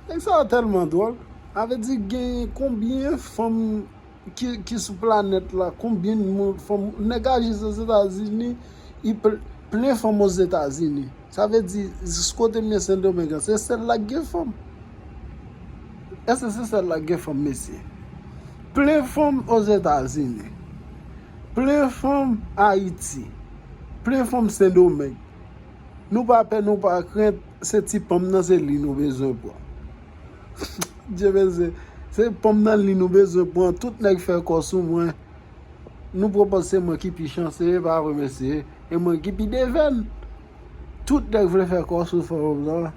Nèg sa yo tèlman dwòl. A vle di gen konbyen fanm ki sou planèt la, konbyen fanm, nèg a jis ozetazini, li plen fanm ozetazini. Sa vle di jis kote m ye sendomeng an, se sèl la k gen fanm? Èske se sèl la k gen fanm mesye? Plen fanm ozetazini, plen fanm ayiti, plen fanm sendomeng. Nou pa pè nou pa krent se ti pom nan se li nou bezwen pran Dye vese se pom nan li nou bezwen pran tout nèg fè kò sou mwen Nou pran pòz se mwen ki pi chanse e pa vre mesye e mwen ki pi devèn Tout nèg vle fè kò sou fanm nan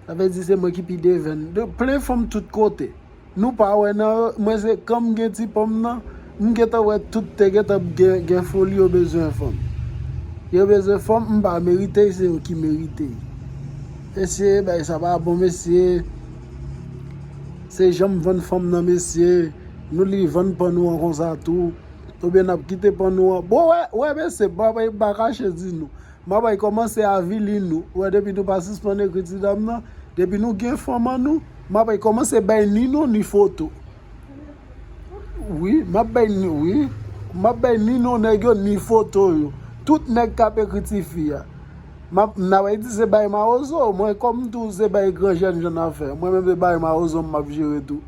Sa vle di se mwen ki pi devèn Plen fanm tout kote. Nou pa wè nan yo, mwen se kòm gen ti pòm nan, m gentan wè tout te gentan p gen gen foli yo bezwen fanm. Yo bezwen fanm m pa merite y se yo ki merite y. Mesye bagay sa pa bon mesye. Se janm vann fanm nan mesye, nou li vann pan nou an konsa tou. Oubyen nap kite pan nou an. Bon wè wè mesye m pa kache di nou. Mabay kòmanse avili nou wè depi nou pa sispann ekri ti dam nan depi nou gen fanm an nou mabay kòmanse bay ni non ni foto wi map bay ni wi map bay ni non nèg yo ni foto yo tout nèg kap ekri ti fi a map nabay di se bay mawozo mwen kòm tou se bay gran jèn jan nan fè mwen menm se bay mawozo map jere tou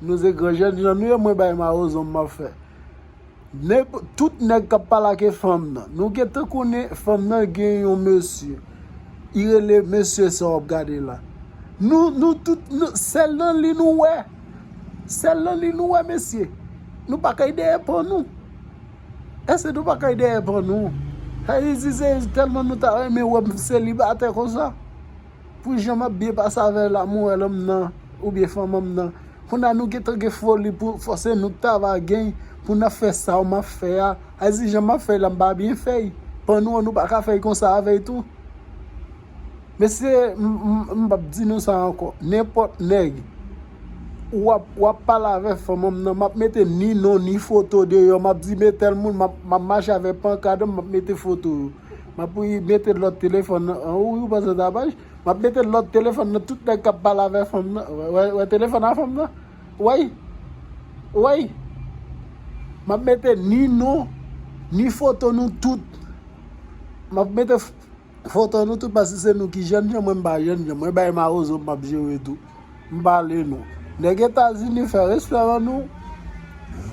nou se gran jèn jan nou ye mwen bay mawozo map fè. Nèg tout nèg kap pale ake fanm nan nou gentan konnen fanm nan gen yon mesye i rele mesye sa wap gade la nou nou tout sèl nan li nou wè sèl nan li nou wè mesye nou pa kay dèyè pan nou èske nou pa kay dèyè pan nou sa vle di se tèlman nou ta renmen wè m selibatè konsa. Pou jan map byen pase avè la moèlom nan ou byen fanmom nan konda nou gentan gen foli pou fòse nou ta va gen pou nap fè Saw map fè a al di jan map fèy la mpa byen fèy pan nou an nou paka fèy konsa avèy tou mesye mpap di nou sa ankò nenpòt nèg wap wap pale avè fanmom nan map mete ni non ni foto deyò map di me tèl moun map mache avè pankadm map mete foto yo. Map mete lòt telefòn nan. An ou panse se tapaj? Map mete lòt telefòn nan tout nèg kap pale avè fanm nan. Wè telefòn a fanm nan? Wèy. Wèy. Map mete ni nou, ni foto nou tout. Map mete foto nou tout pase se nou ki jèn jan mwen m pa jèn jan. Mwen bay mawozo map jere tou. M pale nou. Nèg etazini fè restoran nou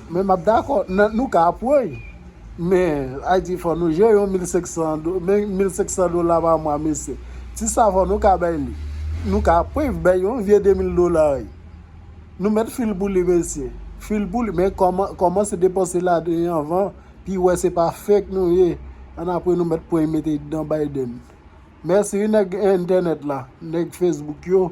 men map dakò nan nou ka apwoy men ayiti fò nou jere yon 1500 do men 1500 dola pa mwa mesye ti savon nou ka bay li nou ka apwoy bay yon vye 2000 dola wi nou mèt fil pou li mesye fil pou li men kòman kòmanse depanse ladan anvan pi wè se pa fake nou ye ann apre nou mèt pwoy mete dan Biden. Merci wi nèg internet la, nèg Facebook yo.